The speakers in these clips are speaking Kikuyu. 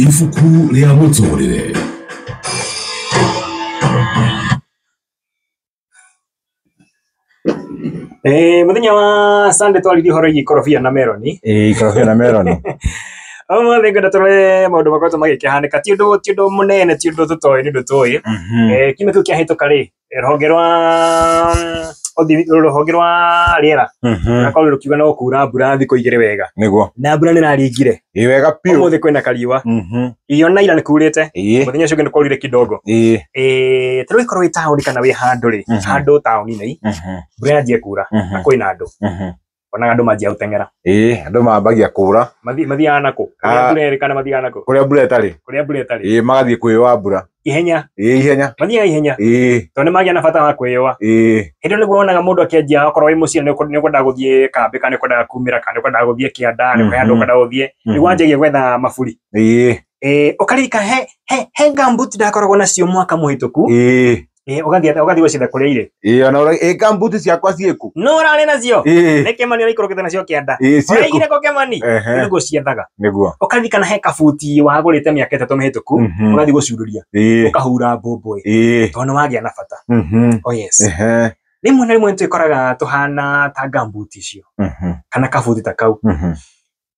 ibuku rĩa mũtũrĩre Eh, muthenya wa Sunday twaririe horo igi korobia na meroni ĩĩ korobia na meroni ũmũthĩ ngwenda tũrore maũndũ makoretwo magĩkĩhanĩka ti ũndũ ti ũndũ mũnene ti ũndũ tũtoĩ nĩ ũndũ tũĩ Eh, kiumia kĩu kĩahĩtũka rĩ rũhonge rwa rũhonge rwa rĩera rũgakorwo rũkiuga no kuura mbura thikũ igĩrĩ wega nĩguo na mbura nĩ raringire ĩ wega biũ ũmũthĩ kwĩna kariũa ĩyo na ira nĩ kurĩte mũthenya ũcio ũngĩ nĩ kwaurire kidogo ta rĩu ĩkorwo wĩ taũni kana wĩ handũ rĩ handũ taũni-inĩ mbura yanjie kuura na kwĩna andũ Onaga andũ manjia gũteng'era. Ĩĩ, andũ mambagia kũũra. Mathi, mathiaga nakũ? Kũrĩa ah. mbura ĩrĩ kana mathiaga nakũ? Kũrĩa mbura ĩtarĩ. Kũrĩa mbura ĩtarĩ. Ĩĩ, magathiĩ kwĩyũa mbura. Ihenya. Ĩĩ, ihenya. Mathiaga ihenya. Ĩĩ. Tondũ nĩmagĩa na bata wa kwĩyũa. Ĩĩ. Hĩndĩ nĩguo wonaga mũndũ akĩanjia okorwo wĩ mũciĩ nĩũkwendaga gũthiĩ kambĩ kana nĩũkwendaga kumĩra kana nĩũkwendaga gũthiĩ kĩanda nĩ kũrĩ handũ ũkwendaga gũthiĩ nĩguo mhm. wanjagia gwetha maburi. Ĩĩ. Ĩĩ, ũkarika he he he gumboot ndakoragwo nacio mwaka mũhĩtũku. Ĩĩ. Eh, ũgathiĩ atĩa? ũgathiĩ gwĩcitha kũrĩa irĩ ĩ ona ũra- ĩ kambuti ciakwa ciĩku no ũrarĩ nacio ĩ nĩ kĩmani ũraikũrũkĩte nacio kĩanda ĩ ciĩku ũraigire kũ kĩmani Ehe, nĩguo ciethaga nĩguo ũkathi kana he kabuti wagũrĩte mĩaka ĩtatũ mĩhĩtũku Mhm. ũgathi gũcurũria ĩ ũkahura mbũmbũĩ ĩ tondũ wagĩa na bata mhm, oh yes ehe, rĩmwe na rĩmwe nĩtwĩkoraga tũhana ta ngambuti icio mhm, kana kabuti ta kau mhm,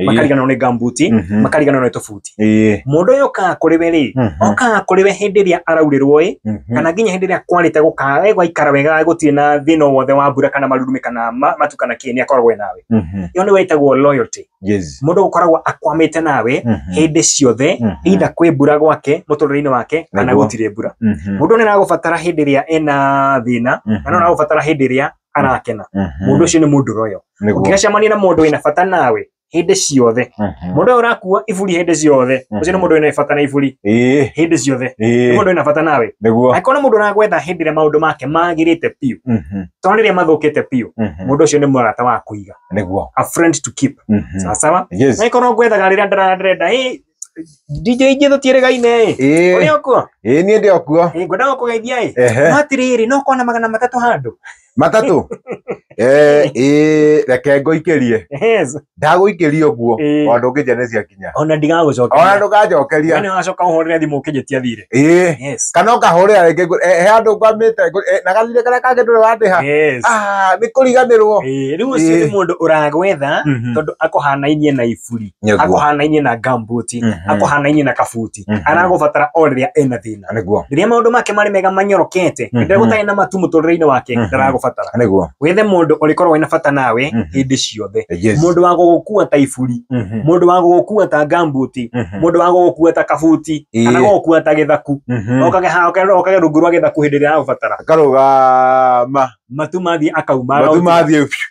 Ĩĩ. makariganĩrwo nĩ gambuti Mhm. makariganĩrwo nĩ tũbuti Ĩĩ. mũndũ ũyũ okaga kũrĩ we rĩ Mhm. okaga kũrĩ we hĩndĩ ĩrĩa araurĩrwo ĩ Mhm. kana nginya hĩndĩ ĩrĩa kwarĩte gũkaga we gwaikara wega gũtirĩ na thĩna o wothe wa mbura kana marurumĩ kana ma- matu kana kĩ nĩ akoragwo e nawe Mhm. ĩyo nĩwe ĩtagwo loyalty Yes. mũndũ gũkoragwo akwamĩte nawe Mhm. hĩndĩ ciothe Mhm. either kwĩ mbura gwake mũtũrĩre-inĩ wake kana Nĩguo. gũtirĩ mbura Mhm. mũndũ nĩ aragũbatara hĩndĩ ĩrĩa ena thĩna Mhm. na no aragũbatara hĩndĩ ĩrĩa arakena Mhm. mũndũ ũcio nĩ mũndũ royo Nĩguo. ũngĩgacemania na mũndũ wĩna bata nawe hĩndĩ ciothe Mhm. mũndũ ũyũ ũrakua iburi hĩndĩ ciothe ũcio nĩ Mhm. mũndũ wĩna bata na iburi Ĩĩ, hĩndĩ ciothe nĩ ĩĩ, mũndũ wĩna bata nawe nĩguo. angĩkorwo nĩ mũndũ ũragwetha hĩndĩ ĩrĩa maũndũ make magĩrĩte biũ Mhm. to rĩrĩa mathũkĩte biũ Mhm. mũndũ ũcio nĩ mũrata wa kũiga Nĩguo. a friend to keep Mhm. sawasawa Yes. na ĩkorwo ngwethaga rĩrĩa ndara- ndĩrenda "Ĩ, DJ ingĩ tũtiĩrĩgaine ĩ Ĩĩ. ũrĩ okuo ĩĩ niĩ ndĩ okuo Ĩ, ngwenda gũkũgeithia ĩ ehe no atĩrĩrĩ no kona magana matatũ handũ matatũ Eh, ĩĩ reke ngũikĩrie Yes. ndagũikĩria ũguo Ĩĩ. o ndũngĩnjia nĩ ciakinya ona ona ndigagũcokeria ndũkanjokeria Yaani wacoka ũhũrĩre thimũ ũkĩnjĩtia thirĩ ĩĩ Yes. kana ũkahũrĩra rĩngĩ ngũ- eh, he andũ ngwamĩte ngũ- eh, na gathirĩ karĩa kangĩ ndũrĩ wandĩha Yes. Ah, nĩ kũriganĩrwo Ĩĩ, rĩu ũcio Ĩĩ. nĩ mũndũ ũragwetha Mhm. tondũ akũhanainie na ibu buri Nĩguo. ako hanainie na gambuti Mhm. ako hanainie na kabuti Mhm. aragũbatara o rĩrĩa ena thĩna nĩguo rĩrĩa maũndũ make marĩ mega manyorokete Mhm. rĩrĩa gũtarĩ na matu mũtũrĩre-inĩ wake Mhm. ndaragũbatara nĩguo wethe mũndũ ũrĩkorwo wĩna bata nawe Mhm. hĩndĩ ciothe Yes. mũndũ wa gũgũkua ta iburi Mhm. mũndũ wa gũgũkua ta gambuti Mhm. mũndũ wa gũgũkua ta kabuti Ĩĩ. kana gũgũkua ta gĩthaku Mhm. okage ha- okage okage rungu rwa gĩthaku hĩndĩ ĩrĩa aragũbatara akarũgama matu mathiĩ akauma matu mathiĩ biũ.